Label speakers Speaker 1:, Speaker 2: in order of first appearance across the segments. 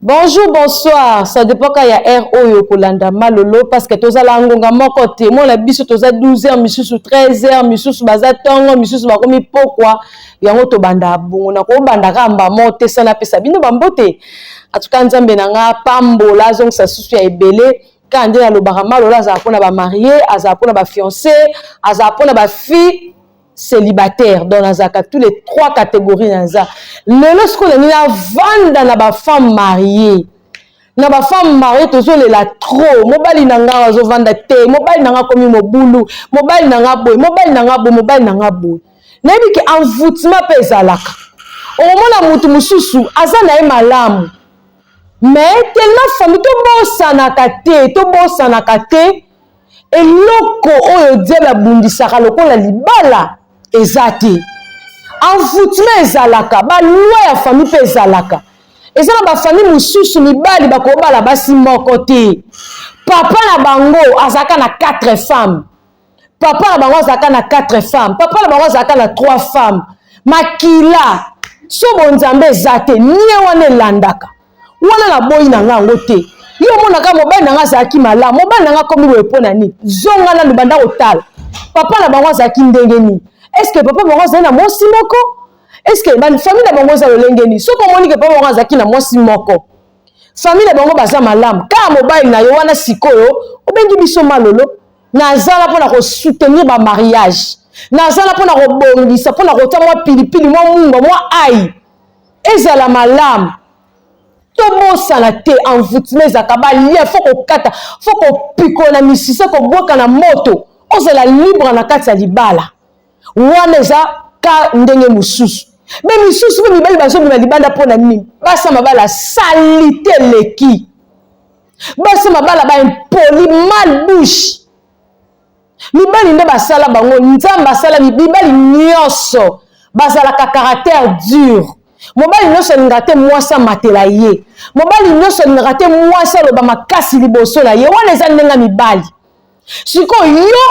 Speaker 1: Bonjour, bonsoir. Ça dépend quand ya heure oyo kolanda malolo parce que tozala ngonga moko te. Moi la biso toza 12h misusu 13h misusu baza tongo misusu bakomi pokwa yango tobanda bongo na ko banda ka mba mote sana pesa bino bambote. En tout cas Nzambe na nga pambola azongisa susu ya ebele kaka nde nalobaka malolo azala mpo na bamarie azala mpo na bafiance azala mpo na bafille celibataire donc nazalaka tous les trois catégories naza lelo sikoyo nalingi navanda na bafemme marie na bafemme marie tozolela trop mobali na ngai azovanda te mobali na ngai akomi mobulu mobali na ngai boye mobali na ngai boye mobali na ngai boye nayebi ke envoûtement mpe ezalaka okomona motu mosusu aza na ye malamu mais tellement fami tobosanaka te tobosanaka te Eloko oyo diable abundisaka lokola libala eza te. Envoutement ezalaka, ba loi ya famille mpe ezalaka. Eza na ba famille mosusu mibali bakobala basi moko te. Papa na bango azalaka na quatre femmes. Papa na bango azalaka na quatre femmes. Papa na bango azalaka na trois femmes. Makila so bonzambe eza te, nie wana elandaka. wana na boyi na nga yango te yo omonaka mobali na nga azalaki malamu mobali na nga akomi boye mpo na nini zonga nanu banda kotala papa na bango azalaki ndenge nini estce papa bango azali na mwasi moko estce famille na bango eza lolenge nini soki omoni ke papa bango azalaki na mwasi moko famille na bango baza malamu kaka mobali na yo wana sikoyo obengi biso malolo nazala mpo na kosoutenir bamariage nazala mpo na kobongisa mpo na kotya mwa pilipili mwa mungwa mwa ai ezala malamu tobosana te envoutema ezalaka balien fo kokata fo kopikola na misisa kobwaka na moto ozala libre na kati ya libala wana eza ka ndenge mosusu me misusu mpe mibali bazobima libanda mpo na nini basi ya mabala salite eleki basi ya mabala baimpoli mal bouche mibali nde basala bango nzambe asala mibali nyonso bazalaka caractère dur mobali nyonso alingaka te mwasi amatela ye mobali nyonso alingaka te mwasi aloba makasi liboso na ye wana eza ndenge mibali sikoyo yo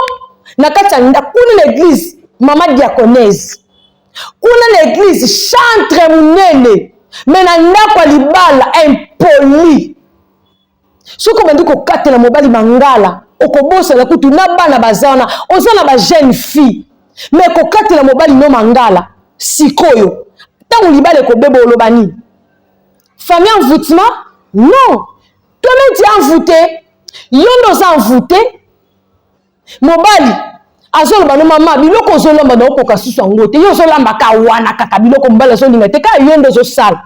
Speaker 1: na kati ya ndako kuna na eglize mama diaconese kuna na eglize chantre monene me na ndako ya libala impoli soki obandi kokatela mobali mangala okobosana kutu na bana baza wana oza na bajeune fille me kokatela mobali no mangala sikoyo ntango libala ekobeba oloba nini famille envoutement non toi-même tu envoute yo nde oza envoute mobali azoloba no mama biloko ozolamba naokoka susu yango te yo ozolamba ka wana kaka biloko mobali azolinga te kaka yo nde ozosala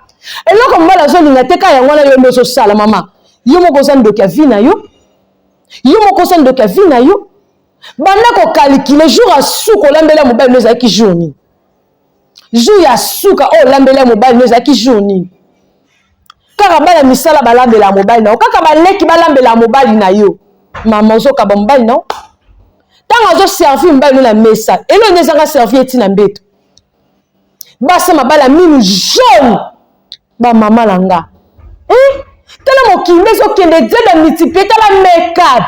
Speaker 1: eloko mobali azolinga te kaka yango wana yo nde ozosala mama yo moko oza ndoki ya vi na yo yo moko oza ndoki ya vi na yo banda kokalikile jour asuka olambela mobali no ezalaki jour nini jour ya suka oyo olambeli ya mobali no ezalaki jour nini kaka bana misala balambela ya mobali na yo kaka baleki balambela ya mobali na yo mama ozokaba mobali na yo ntango azoservi mobali no na mesa eloo nde ezanga servi eti na mbeto basi mabala minu jaune ba mama na nga eh, tala mokili ezokende zeda multiplie tala makeup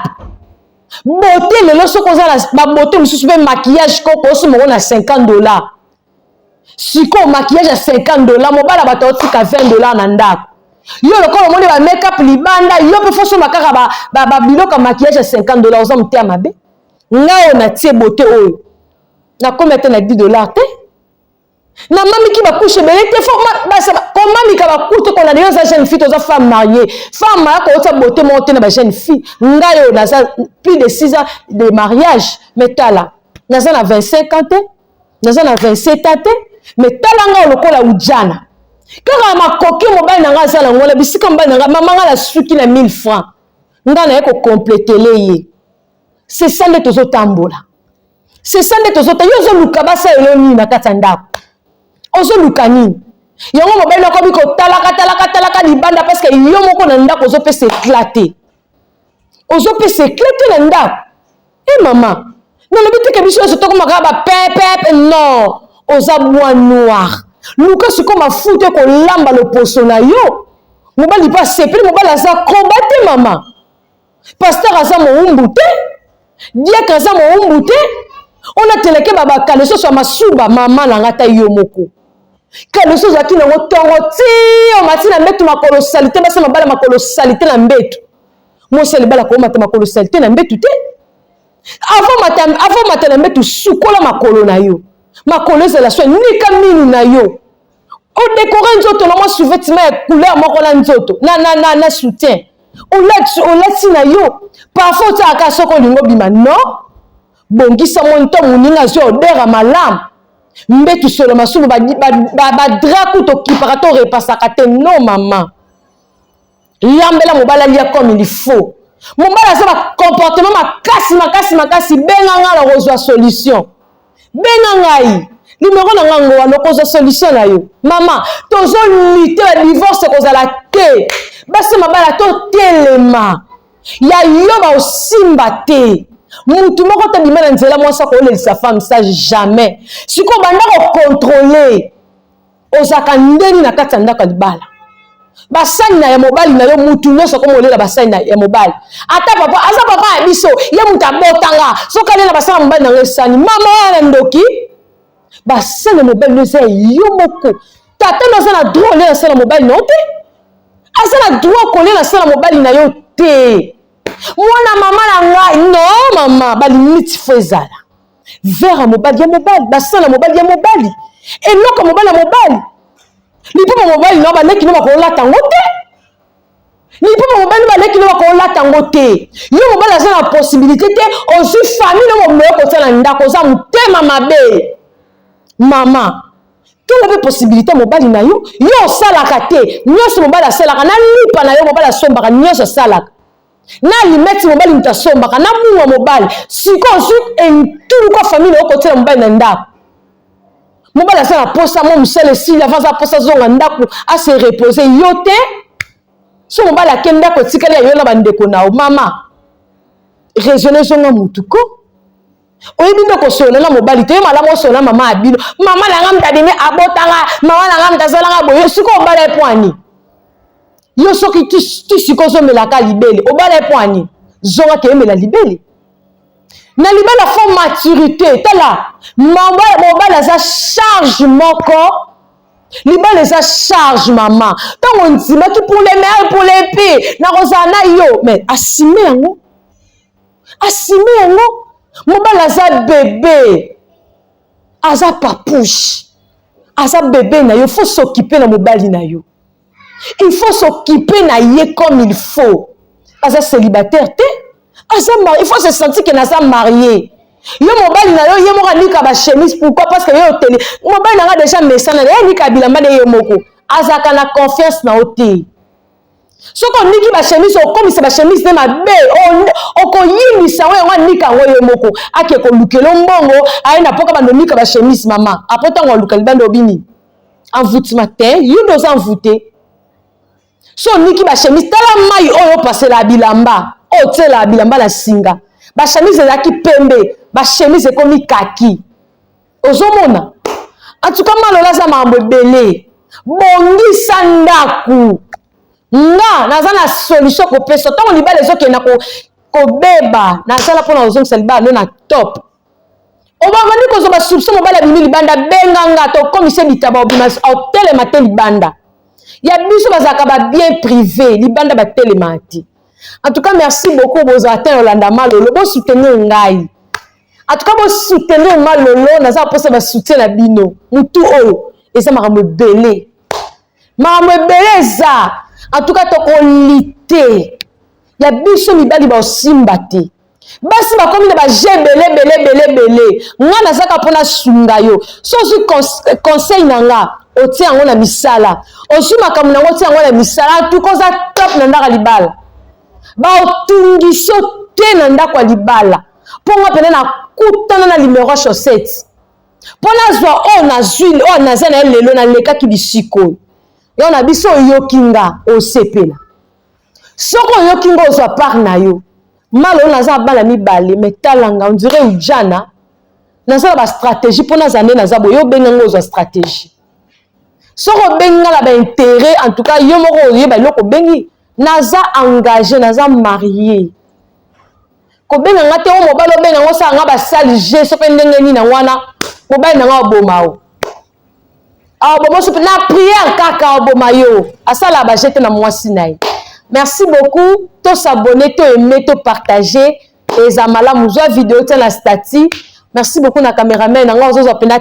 Speaker 1: bote lelo soki oza na babote mosusu mpe makiyage koko osi moko na 50 dollar sikoyo makiyage ya 50 dollar mobala bato aotika 20 dollar na ndako yo lokola omoni ba makeup libanda yo mpe fosomba kaka babiloko ya makiyage ya 50 dollar oza moteya mabe ngai oyo natie bote oyo nakomi ata na 10 dollar te na mamiki bakushe ebele te fo komamika bakute kona lelo oza jeune fille toza femme mariée femme maya koyotisa bote moko te na ba jeune fille ngai oyo naza plus de 6 ans de mariage mais tala naza na 25 ans te naza na 27 ans te mais tala ngai lokola ujana kaka makoki mobali na ngai aza na ngona bisika mobali na ngai mama ngai nasuki na 1000 francs ngai naye kokompletele ye sesa nde tozotambola c'est ça nde tozota yo ozoluka basalelo nini na kati ya ndako ozoluka nini yango mobali nakomi kotalaka talaka talaka libanda parceke yo moko na ndako ozopesa ekla te ozopesa ekla te na ndako e eh, mama nalobi teke biso nyonso tokomaka bapepepe non oza bwa noir luka sikoyo mafuta ekolamba loposo na yo mobali mpe asepeli mobali aza koba te mama Pasteur aza mowumbu te. Diacre aza mowumbu te. On a teleke baba kaleso swa masuba mama na ngata yo moko. Kaleso zaki na ngo tongo ti o matina mbetu makolo salite basa mabala makolo salite na mbetu. Mosali bala ko mata makolo salite na mbetu te. Avant mata avant mata na mbetu sukola makolo na yo. Makolo ezala swa nika minu na yo. odekore nzoto na mwa souvetima ya couleur moko na nzoto na, na, na, na soutien olati olati na yo parfum otiaka kaka soki olingi obima no bongisa mwa nto moninga azwi odera malamu mbetu solo masumu badra kutu okipaka to repasaka te no mama Lambela mobali alia comme il faut. Mobali aza ba comportement makasi makasi makasi benga nga na kozwa solution. Benga ngai numéro na nga ngowa lokozwa solution na yo. Mama tozo lutter ya divorce kozala te. Basi mabala totelema ya yo baosimba te. Mutu moko te bima na nzela mwasi akolelisa femme sage jamais. Sikoyo banda ko contrôler ozalaka ndeni na kati ya ndako ya libala basani na ya mobali na yo mutu nyonso akomi olela basani na ya mobali ata papa aza papa ya biso ye moto abotanga soki alela basani ya mobali na yo esani mama wana ndoki basani ya mobali no eza yo moko tata no aza na droit olela sani ya mobali na yo te aza na droit kolela sani ya mobali na yo te mwana mama na ngai no mama balimiti fo ezala vere ya mobali ya mobali basala ya mobali ya mobali eloko ya mobali ya mobali liboma mobali na baleki no bakolata yango te liboma mobali no baleki no bakolata yango te yo mobali aza na posibilité te ozwi famille no moboyo kotia na ndako oza motema mabe mama tonga mpe posibilité ya mobali na yo yo osalaka te nyonso mobali asalaka na lipa na yo mobali asombaka nyonso asalaka na alimeti mobali moto asombaka na munga mobali sikoyo ozwi entuluka famile okotyela mobali na ndako mobali aza na posa mwa mosala esili ava aza posa azonga ndako ase repose yo te so mobali ake ndako etikali ya yo na bandeko na yo mama raisonne ezonga motu ko oyebi nde kosolola na mobali te ye malamu osolola mama ya bino mama na nga moto abimi abotanga mama na nga moto azalanga boye soki obala ye mpo ani yo soki ti sikoyo ozomelaka libele obala ye mpo ani zonga keyemela libele na libala fo maturité tala mobala aza charge moko libala eza charge mama ntango ondimaki puleme puleme mpe nakozala na yo mais asime yango asime yango mobali aza bebe aza papouche aza bebe na yo faut s'occuper na mobali na yo il faut s'occuper na ye comme il faut aza célibataire te aza il faut se sentir que naza marié yo mobali na yo ye moko anika bachemise pourquoi parce que yo oteli mobali na nga deja mesana na ye anika bilamba na ye moko azalaka na confiance na yo te soki oniki bashemise okomisa bashemise nde mabe okoyinisa yango yango anika yango ye moko ake kolukela mbongo aye na mpoka bando onika bashemise mama apo ntango aluka libanda obini envoutima te yo nde oza envoute so oniki bashemise tala mai oyo opasela bilamba oyo otyela bilamba na singa bashemise ezalaki pembe bashemise ekomi kaki ozomona antuka malola aza makambo ebele bongisa ndako nga naza na solution kopesa ntango libala ezokenda kobeba nazala mpo na kozongisa libala no na top obabandi kozwa basolution mobali abimi libanda benga nga tokomise bitaba obima otelema te libanda ya biso bazalaka babien privé libanda batelemaka te en tout cas merci beaucoup bozala te na olanda malolo bosoutenir ngai en tout cas bo soutenir ma lolo naza posa ba soutien na bino mutu oyo eza makambo ebele makambo ebele eza en tout cas tokolite ya biso mibali baosimba te basi bakomi na baje ebele ebele ebele ebele nga nazaka mpo nasunga yo so ozwi conseil na nga otie yango na misala ozwi makambo na yango otie yango na misala antuka oza top na ndako ya libala baotungisi yo te na ndako ya libala mpo nga mpena nakutana na limero ya chaussette mpo nazwa oyo nazwi oyo naza na ye lelo nalekaki bisika oyo yo na biso oyoki nga osepela soki oyoki nga ozwa part na yo mala oyo naza bana mibale me talanga ondire ujana naza na bastratégie mpo naza nde naza boye obenga nga ozwa stratégie soki obengi nga na bainteret en tout cas yo moko oyeba eloko obengi naza engage naza marie kobenga nga te o mobali obenga ngo osala nga basali je so mpe ndenge nini yango wana mobali na nga oboma o aoboma so mpe na priere kaka aoboma yo asala baje te na mwasi na ye merci beaucoup tosabone to aime to partage eza malamu zwa video tia na stati merci beaucoup na cameraman yango azozwa mpenza